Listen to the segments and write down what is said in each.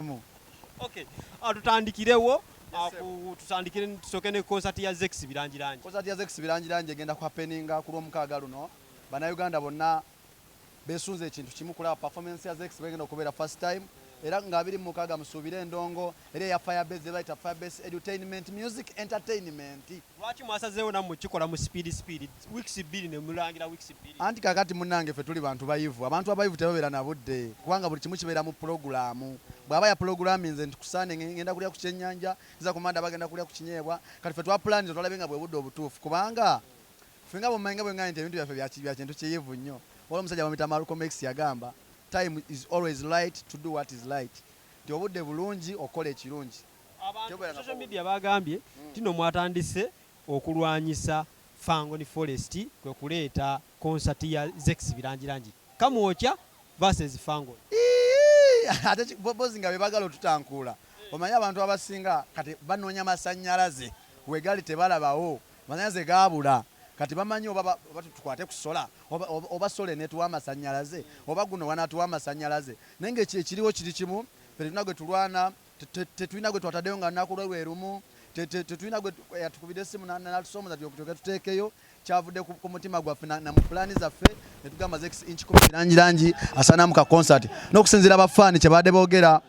mirimu. Okay. Ah, tutandikirewo ah, tutandikire tusooke ne concert ya Zex Birangirangi. Concert ya Zex Birangirangi egenda ku happeninga ku lw'omukaaga luno. Bannayuganda bonna beesunze ekintu kimu kulaba performance ya Zex bwegenda okubeera first time era nga abiri mukaaga musuubire endongo era eya firebase ze bayita firebase edutainment music entertainment. Lwaki mwasazeewo nammwe kikola mu speed speed? weeks bbiri ne mulangira weeks bbiri. Anti kakati munange ffe tuli bantu bayivu abantu abayivu tebabera na budde kubanga buli kimu kibeera mu pulogulaamu bwaba ya pulogulaami nze nti ku Sunday nge- ngenda kulya ku kyenyanja nza ku Monday bagenda kulya ku kinyeebwa kati ffe twapulaaniza twalabe nga bwe budde obutuufu kubanga ffe nga bwemmanyi nga bwe ngambye nti ebintu byaffe bya ki- bya kintu kiyivu nnyo waliwo omusajja bamuyita Malcolm X yagamba time is always right to do what is right nti obudde bulungi okukola ekirungi abantu ku Tebera na social media bagambye tino mwatandise okulwanyisa Fangoni Forest kwe kuleeta konsati ya Zex Birangirangi, Kamwokya versus Fangoni. Iihh ate ki bozi nga bebagala otutankuula omanyi abantu abasinga kati banonya masanyalaze wegali tebalabawo masanyalaze gabula kati bamanyi oba oba tukwate ku solar oba oba solar enetuwa amasanyalaze oba guno wanatuwa amasanyalaze naye nga ekiriwo kiri kimu ffe tulina gwetulwana tetulina gwe twatadeyo nga lunaku lwe lwe lumu tetulina gwe yatukubidde essimu natusoomoza tyoke tuteekeyo kyavudde ku mutima gwaffe na mu pulaani zaffe ne tugamba zex inch kumi langi langi asaanamu ka concert n'okusinziira abafaani kye baadde boogera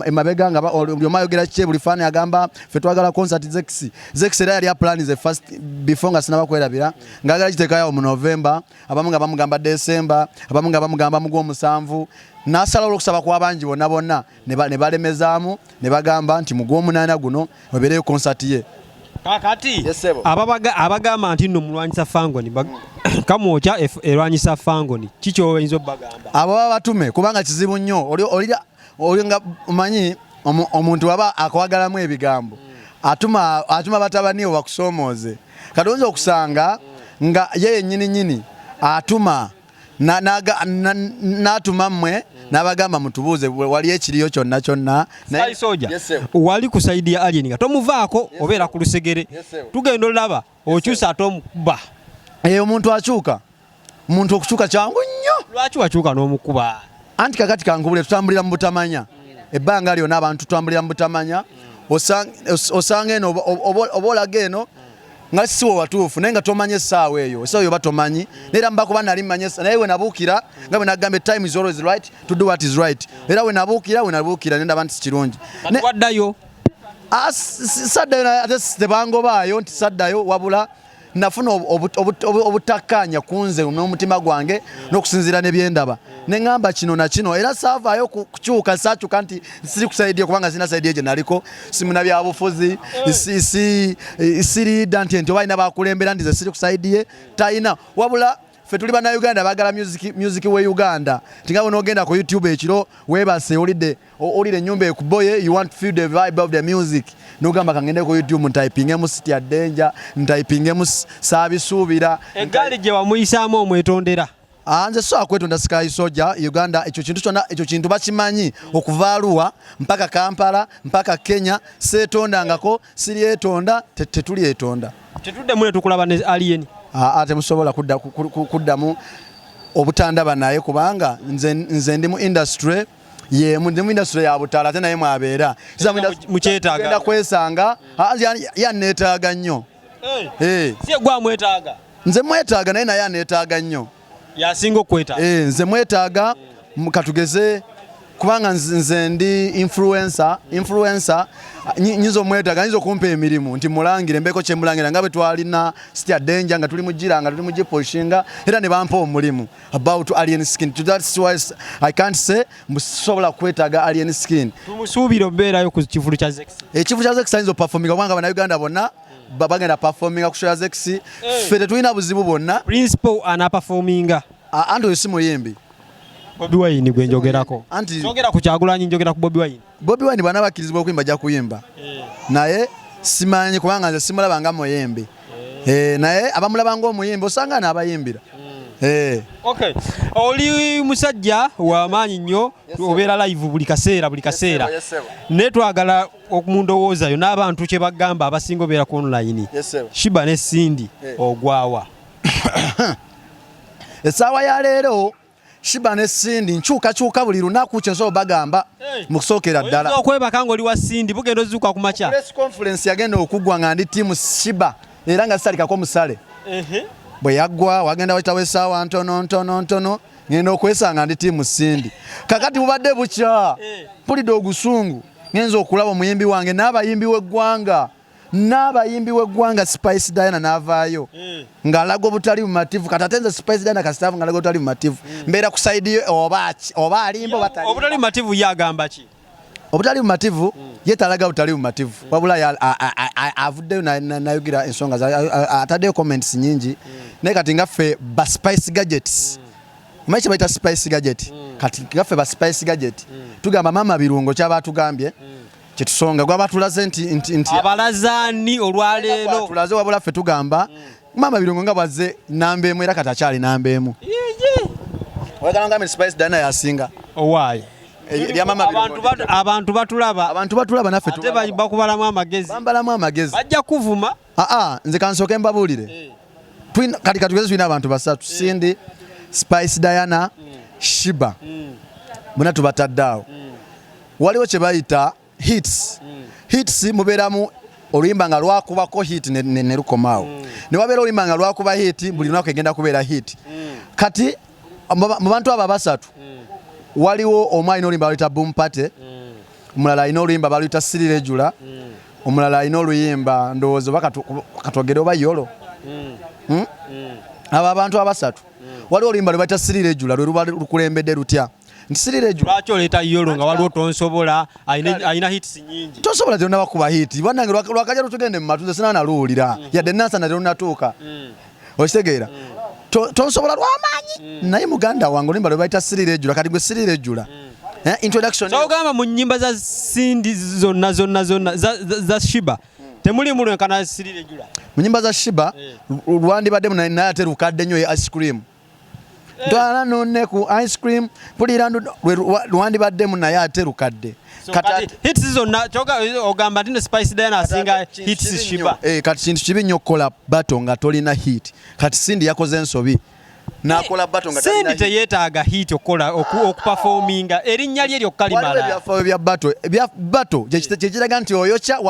emabega nga buli omu ayogera kikye buli faani agamba ffe twagala concert zex zex era yali apulaani ze first before nga sinaba kwerabira ngaagala giteekayawo mu novemba abamu nga bamugamba desemba abamu nga bamugamba mu gwomusanvu nasalawo okusaba kwabangi bonna bonna ne balemezaamu ne bagamba nti mu gwomunaana guno webeereyo konsati ye kakati abagamba nti nno mulwanyisa fangoni kamwokya erwanyisa fangoni kikyoyinza obagamba abo baba batume kubanga kizibu nnyo Oyo nga omanyi omuntu waba akwagalamu ebigambo atuma atuma batabaniwe bakusoomooze kati oyinza okusanga nga ye yennyini nyini atuma n'atuma mmwe n'abagamba mutubuuze wali ekiriyo kyonna kyonna soja wali ku sayidi ya alien nga tomuvaako obeera ku lusegere tugenda olaba okyusa ate omukuba eyo omuntu akyuka omuntu okukyuka kyangu nnyo lwaki wakyuka n'omukuba anti kakati kankubule tutambulira mu butamanya ebbanga lyona abantu tutambulira mu butamanya osanga eno oba olaga eno nga siwe watuufu naye nga tomanya essaawa eyo essaawa eyo oba tomanyi naera mbakuba nali manya naye wenabuukira nga bwenagamba time is always right to do what is right era wenabuukira wenabuukira nendaba nti sikirungi waddayo Ah, saddayo ate tebangobaayo nti saddayo wabula nafuna obutakkaanya ku nze n'omutima gwange n'okusinziira ne byendaba ne ŋŋamba kino na kino era saavaayo kukyuka saakyuka nti siri kusaidiye kubanga sirina saidiye gye naliko simuna byabufuzi siriida nti nti oba alina bakulembera nti ze siri kusaidiye talina wabula ffe tuli bannayuganda bagala music we uganda tinga bwonogenda ku youtube ekiro webase olidde olire enyumba ekuboye you want to feel the vibe of the music nogamba kangende ku youtube ntaipingemu sitya denja ntaipingemu saabisuubira eggaali gye wamuyisaamu omwetondera ah, nze so akwetonda sky soja uganda ekyo kintu kyona ekyo kintu bakimanyi okuva aluwa mpaka kampala mpaka kenya seetondangako siryetonda tetulyetonda tetuddamu netukulaba ne alien aa temusobola kuddamu obutandaba naye kubanga nze ndi mu industry yemu ndi mu industry ya butala ate naye mwabeera mukyetaaga kwesanga yanneetaaga nnyo eh. eh. si egwamwetaaga nze mwetaaga naye naye aneetaaga nnyo yasinga okwetaaga eh, nze mwetaaga katugeze kubanga nze ndi influencer influencer nyinza omwetaaga nyinza okumpa emirimu nti mulangire mbeeko kyemulangira nga bwe twalina sitya denja nga tuli mugira nga tuli mugiposhinga era ne bampa omulimu about alien skin to that's why i can't say mbusobola kwetaaga alien skin tumusuubira obeerayo ku kivulu kya zex ekivulu eh, kya zex ayinza opafominga kubanga banauganda bonna bagenda performinga ku show zex eh. ffe tetulina buzibu bwonna principal ana performinga anti oyo si muyimbi bobi wine gwe njogerako njogera ku kyagulanyi njogera ku bobi wine bobi wine bwana bakkirizibwa okuyimba ajja kuyimba eh. naye simanyi kubanga nze simulaba nga muyimbi eh. naye abamulaba ngaomuyimbi osanga naabayimbira Eh. Okay. Oli musajja wa maanyi nnyo obeera live buli kaseera buli kaseera. Naye twagala mu ndowooza yo n'abantu kye bagamba abasinga obeera ku online shiba ne sindi eh. ogwawa essaawa ya leero shiba ne sindi nkyukakyuka buli lunaku kyensobola bagamba eh. mu kusookera ddala okwebaka ng'oli wa sindi bugenda ozuuka ku makya press conference yagenda okuggwa nga ndi tiimu shiba era nga sisalikako musale bwe yaggwa wagenda wakitawo essaawa ntono ntono ntono ngenda okwesanga ndi tiimu sindi kakati bubadde bukya eh. mpulidde ogusungu ngenza okulaba omuyimbi wange n'abayimbi w'eggwanga n'abayimbi w'eggwanga spice diana n'avaayo eh. ng'alaga obutali bumativu kati ate nze spice diana kasitaavu ng'alaga obutali bumativu eh. mbeera ku saidi oba alimba obutali bumativu ye agamba ki obutali bumativu hmm. ye talaga butali bumativu hmm. wabula avuddeyo nayogera ensonga ataddeyo comments nyingi hmm. naye kati nga ffe ba spice gadgets Omanyi kye bayita spice gadget mm. kati gaffe ba spice gadget mm. tugamba maama birungo kyaba atugambye mm. kyetusonga gwaba atulaze nti, nti, nti abalazani olwaleero tulaze wabula ffe tugamba mm. maama birungo nga bwazze namba emu era kati akyali namba emu oyagala ngambe spice dana yasinga owaaye eh, abantu batulaba abantu batulaba naffe bakubalamu amagezi bambalamu amagezi bajja kuvuma Aa, ah, ah, nze kansooke mbabuulire eh. kati katugeze tulina abantu basatu eh. Cindy, Spice Diana, mm. Shiba mm. muna tubatadde awo mm. waliwo kye bayita hits hits mubeeramu oluyimba nga lwakubako hit ne lukomaawo ne wabeera oluyimba nga lwakuba hit buli lunaku egenda kubeera hit kati mu bantu abo abasatu waliwo omu alina oluyimba lwayita boom party omulala alina oluyimba baluyita sirira ejula mm. omulala alina oluyimba ndowooza oba katwogere oba yolo mm. Hmm? Mm. abo abantu abasatu waliwo oluyimba lwebayita sirira ejula lwe luba lukulembedde lutya nti sirira ejula lwaki oleeta yolo nga waliwo tonsobola alina hits nyingi tosobola terunabakuba hit banange lwakaja lutugende mumatu nze sinanaluwulira mm-hmm. yadde nansana terunatuuka okitegeera tonsobola lwamaanyi mm. naye muganda wange olimba lwebayita sirira ejula kati gwe sirira ejula mm. eh, introductiongamba mu nyimba za sindi zonna zonna zonna za shiba mm. temulimu lwenkana sirira ejula mu nyimba za shiba eh. lwandibaddemu naye ate lukadde nyo ye ice cream twala nonne ku ice cream pulira lwandibaddemu naye ate lukadde eh, kati kintu kibi nnyo okukola bato nga tolina hit kati sindi yakoze ensobi nakola bato nga sendi teyetaaga hit okukola okupafominga erinnya lye lyokka limalaebyafaayo bya bato bya bato kyekiraga nti oyokya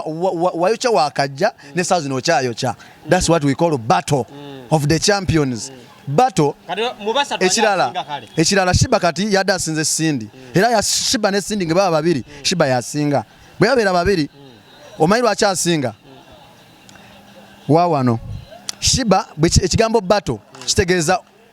wayokya wakajja ne saa zino okyayokya that's what we call battle mm. of the champions mm. battle ekirala ekirala shiba kati yadde asinze sindi mm. era ya shiba ne sindi ngebaba babiri mm. shiba yasinga bwe yabeera babiri mm. omanyi lwaki asinga wawano shiba ekigambo battle kitegeeza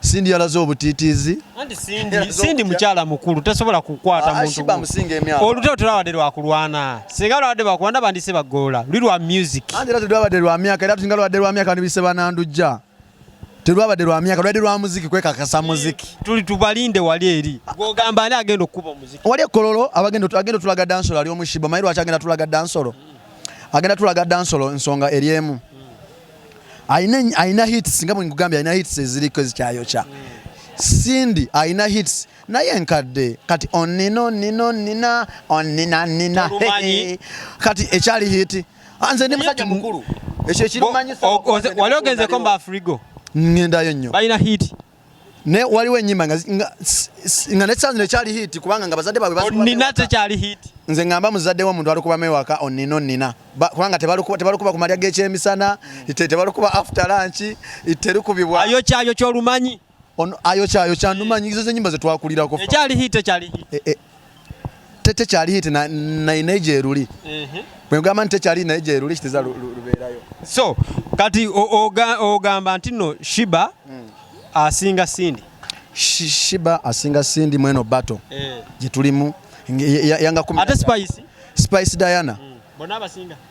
Cindy yalaze obutiitiizi. Anti Cindy, Cindy mukyala mukulu tasobola kukwata ah, muntu. Olutalo terwabadde lwa kulwana. Singa lwabadde lwa kulwana bandise bagoola. Luli lwa music. Anti era terwabadde lwa myaka era singa lwabadde lwa myaka bandibise banandujja. Terwabadde lwa myaka lwabadde lwa muziki kwekakasa muziki. Tuli tubalinde wali eri. Gwogamba ani agenda okukuba muziki? Wali ekololo abagenda agenda tulaga dansolo ali omushiba mayiru akyagenda tulaga dansolo. Agenda tulaga dansolo ensonga eri emu. Alina alina hits nga bwe ngugambye alina hits eziriko ezikyayokya. Cindy alina hits naye nkadde kati onina onina onina onina nina kati ekyali hit ah, nze ndi musajja mukulu ekyo ekirumanyisa wali ogenzeko mba frigo ngendayo nnyo balina hit ne waliwo enyimba nga nga ne channel ekyali hit kubanga nga bazadde babwe basu nina te kyali hit nze ngamba muzadde wa muntu alikuba mewaka onino oh, nina ba, kubanga tebalikuba tebalikuba ku malya g'ekyemisana mm. te tebalikuba after lunch terukubibwa ayo kyayo kyolumanyi on ayo kyayo kyanumanyi izo zenyimba zetwakulirako ekyali hit ekyali hit e, e, tete kyali hit na na ineje eruli ehe bwe ngamba nti kyali na ineje eruli kitiza luberayo so kati oga ogamba nti no shiba mm. asinga sindi Sh shiba asinga sindi mweno bato eh. gye tulimu yanga kumi ate spice spice diana mm. bona abasinga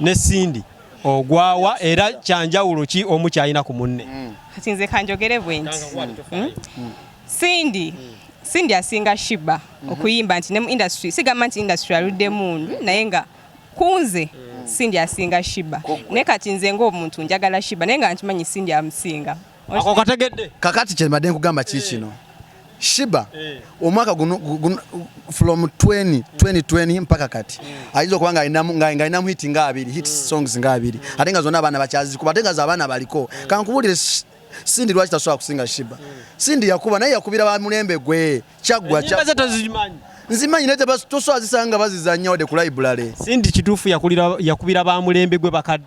ne Cindy ogwawa era kyanjawulo ki omu kyalina ku munne mm. kati nze kanjogere bwenti hmm? mm. Cindy mm. Cindy asinga Shiba mm-hmm. okuyimba nti ne mu industry sigamba nti industry aludde mundu naye nga kunze Cindy asinga Shiba naye kati nze ng'omuntu njagala Shiba naye nga nkimanyi Cindy amusinga Ako kategedde. Kakati kye mbadde nkugamba ki kino. Shiba eh. omwaka guno from 20 2020 mpaka kati mm. ayinza okuba ng'alinamu hit nga abiri hit mm. songs nga abiri ate nga zonna abaana bakyazikuba ate nga z'abaana baliko mm. kankubulire Cindy lwaki tasobola kusinga Shiba Cindy yakuba naye yakubira ba mulembe gwe kyaggwa nzimanyi naye toswazisanga bazizannya wadde ku library Cindy kituufu yakubira ba mulembe gwe bakadde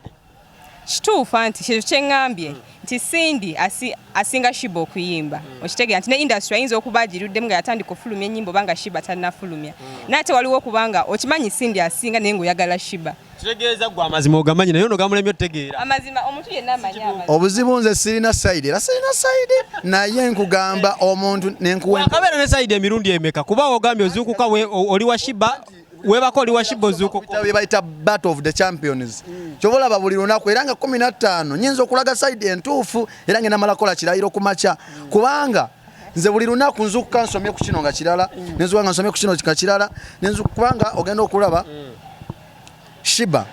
kituufu anti kyezo kyeŋambye mm. nti Cindy asi, asinga Shiba okuyimba mm. okitegera nti ne industry ayinza okuba agiruddemu nga yatandika okufulumya ennyimba obanga Shiba tannafulumya mm. naye ate waliwo okubanga okimanyi Cindy asinga naye ng'oyagala Shiba kitegeeza gwe amazima ogamanyi naye ono gamulemye otegeera amazima omuntu yenna amanyi obuzibu nze sirina sayidi era sirina sayidi naye nkugamba omuntu nenkuwekabeera ne sayidi emirundi emeka kuba ogambye ozuukuka oli wa Shiba webako oli washibo zuko bye bayita battle of the champions mm. kyoba olaba buli lunaku era nga kumi na ttaano nyinza okulaga saidi entuufu era nga enamalakola kirayiro ku makya mm. kubanga nze buli lunaku nzukuka nsomye ku kino nga kirala mm. nenzuka nga nsomye ku kino nga kirala kubanga ogenda okulaba mm. Shiba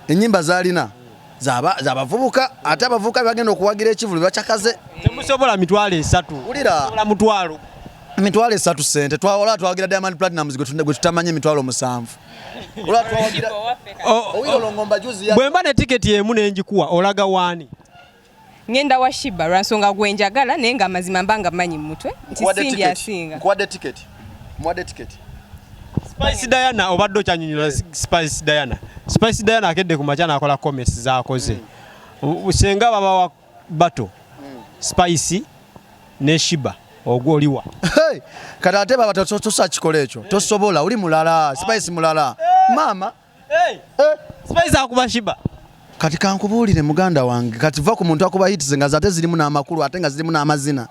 enyimba zalina zaba zabavubuka ate abavubuka bebagenda okuwagira ekivulu bacakaze temusobola mitwalo esatu ulira mutwalo mitwalo esatu sente twawala twagira Diamond Platinumz gwe tutamanyi emitwalo musanvu bwemba ne tiketi emu nenjikuwa olaga waani Ngenda wa Shiba lwansonga gwe njagala naye nga amazima mba nga manyi mumutwe nti Cindy asinga. Nkuwadde ticket. Muwadde ticket. Spice Diana obadde okyanyonyola Spice Diana. Spice Diana akedde ku makya nakola comments zakoze. Mm. Senga baba wa bato. Mm. Spice ne Shiba. ogwo oliwa kati ate baba tosobola ekyo tosobola oli mulala spice mulala maama Hey, hey. Eh? Spice akuba shiba. Kati kankubuulire muganda wange kati va ku muntu akuba hits nga zate zirimu n'amakulu ate nga zirimu n'amazina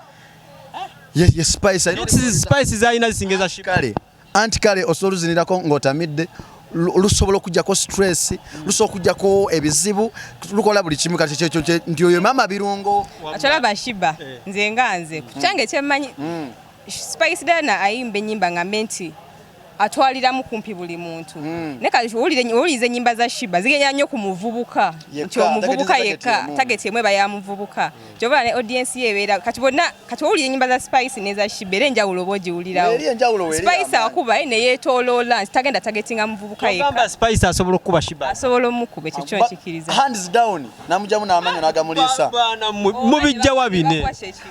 eh? ye spice spice zalina zisingeza shikale anti kale osobola luzinirako ng'otamidde lusobola okujjako stress lusobola okujjako ebizibu lukola buli kimu kati kyekyo nti oyo maama birungo akyalaba shiba eh. nze nga nze ku kyange kyemmanyi mm. Spice Diana ayimba enyimba nga menti atwaliramu kumpi buli muntu mm. ne kati owuliriza ennyimba za shiba zigenda nnyo ku muvubuka nti omuvubuka yekka tageti emu eba ya muvubuka mm. kyova ne audiensi ye ebeera kati bonna kati owulira ennyimba za spice neza shiba era enjawulo oba ogiwulirawo spice akuba eh, neyetoloola nti tagenda tagetinga muvubuka yekka asobola okukuba shiba asobola omukuba ekyo kyo nkikiriza hands down namujamu n'amanyo n'agamuliisa mubijjawa bine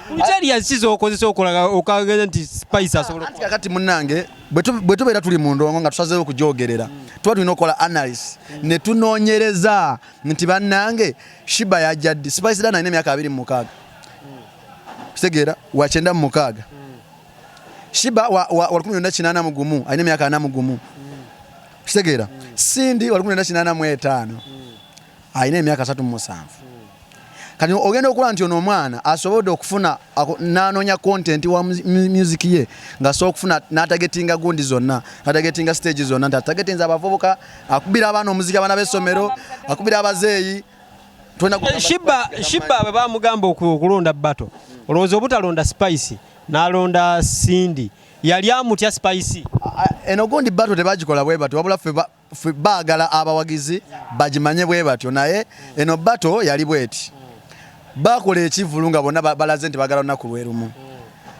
Kukyali yasize okozesa okolaga okagenda nti spice asobola okukola. Kakati munnange bwe tubeera tuli mu ndongo nga tusazeewo okugyogerera tuba tulina okukola analysis ne tunoonyereza nti bannange Shiba yajja ddi Spice Diana alina emyaka abiri mu mukaaga kitegeera wa kyenda mu mukaaga Shiba wa lukumi lwenda kinaana mu gumu alina emyaka ana mu gumu kitegeera Cindy wa lukumi lwenda kinaana mu etaano alina emyaka asatu mu musanvu kati ogenda okulaba nti ono omwana asobodde okufuna n'anoonya kontenti wa music ye ng'asobola okufuna n'atagetinga gundi zonna n'atagetinga stage zonna nti atagetinza abavubuka akubira abaana omuziki abaana b'essomero akubira abazeeyi eh, shibba bwe bamugamba okulonda bato olowooza obutalonda spice n'alonda sindi yali amutya spice eno gundi bato tebagikola bwe bati wabula ffe bagala abawagizi bagimanye bwe batyo naye eno bato yali bweti bakola ekivulu nga bonna balaze nti bagala lunaku lwerumu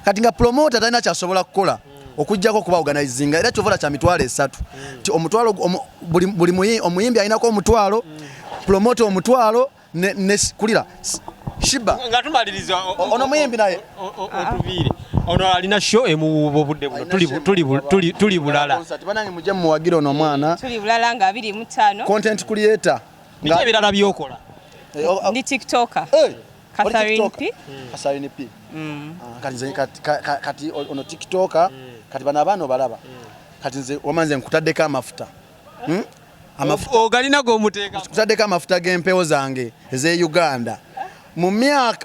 kati nga promota talina kyasobola kukola okujjako okuba organizinga era kyovola kya mitwalo esatu nti omutwalo buli omuyimbi alinako omutwalo promota omutwalo ne ne kulira shiba nga tumaliriza ono muyimbi naye otuviire ono alina show emuwuuba obudde buno tuli bulala banange mujje muwagire ono omwana tuli bulala nga abiri mutaano content creator nga ebirala byokola eh, oh, oh. ndi tiktoker eh, Catherine P hmm. Catherine P hmm. ah, kati nze kati ono tiktoker hmm. kati bana abaana obalaba kati nze wamanze nkutaddeko amafuta hmm? ogalina gomuteekakutadeko amafuta g'empewo zange ez'e uganda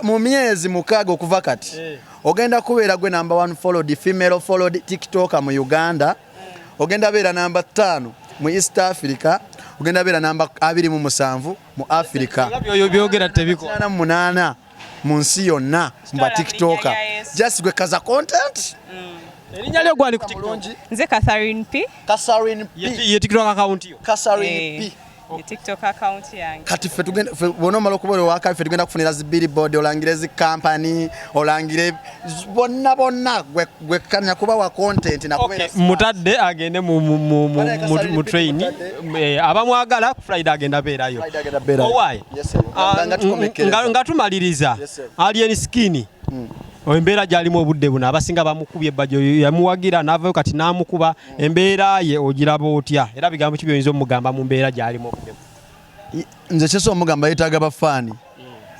mu myezi mukaaga okuva kati eh. ogenda kubeera gwe namba one followed female followed tiktoka mu uganda ogenda beera namba ttaano mu east africa ogenda beera namba abiri mu musanvu mu africa byogera tebikana munaana mu nsi yonna mu batikitoka just gwe kaza content mm. erinnya lyo gwani ku tiktok nze Catherine P Catherine P ye tiktok account yo Catherine P eh. tiktok account yange kati fe tugenda fe bona malo kubole waka fe tugenda kufunira zi billboard olangire zi company olangire bonna bonna gwekkanya kubawa content mutadde agende mu train eh, abamwagala ku friday agenda beerayo owaye ah, nga tumaliriza alien skin hmm. embeera gyalimu obudde buno abasinga bamukubye ebbajjo yamuwagira n'avayo kati n'amukuba hmm. embeera ye ogiraba otya era bigambo ki byoyinza omugamba mu mbeera gyalimu obudde nze kyesa omugamba yetaaga bafaani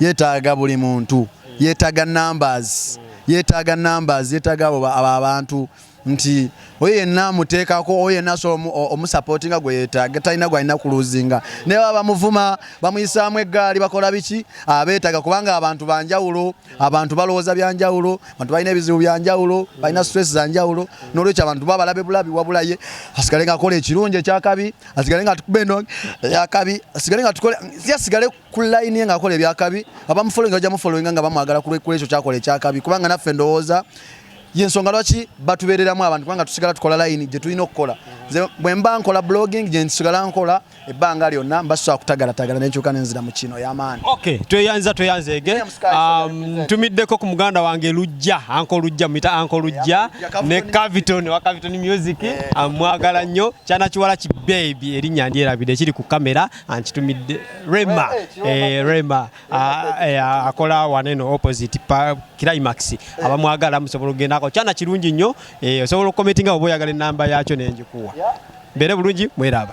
yetaaga buli muntu yetaaga numbers yetaaga numbers yetaaga abo abantu nti oyo yenna amuteekako oyo yenna asobola omusapootinga gwe yeetaaga talina gwalina kuluzinga naye baba bamuvuma bamuyisaamu eggaali bakola biki abeetaaga kubanga abantu banjawulo abantu balowooza byanjawulo abantu balina ebizibu byanjawulo balina stress zanjawulo n'olwekyo abantu baba balabe bulabi wabula ye asigale nga akola ekirungi ekyakabi asigale nga atukube eno yakabi asigale nga atukole si asigale ku line ye ng'akola ebyakabi abamufolowinga bajja mufolowinga nga bamwagala kulwekyo kyakola ekyakabi kubanga naffe ndowooza yensonga lwaki batubereramu abantu kubanga tusigala tukola layini gye tulina okukola bwe mba nkola blogging gye nsigala nkola ebbanga lyonna mba sisobola kutagalatagala nenkyuka nenzira mu kino ey'amaani ok tweyanza tweyanzeege um, ntumiddeko ku muganda wange lujja anka olujja muyita anka olujja ne caviton wa caviton music amwagala nnyo kyana kiwala ki bebi erinnya ndyerabidde ekiri ku kamera ankitumidde rema eh, rema ah, eh, akola waneno opposite pa climax abamwagala musobola okugendako kyana kirungi nnyo eh, osobola okukometinga oba oyagala enamba yakyo nenjikuwa mbeere bulungi mweraba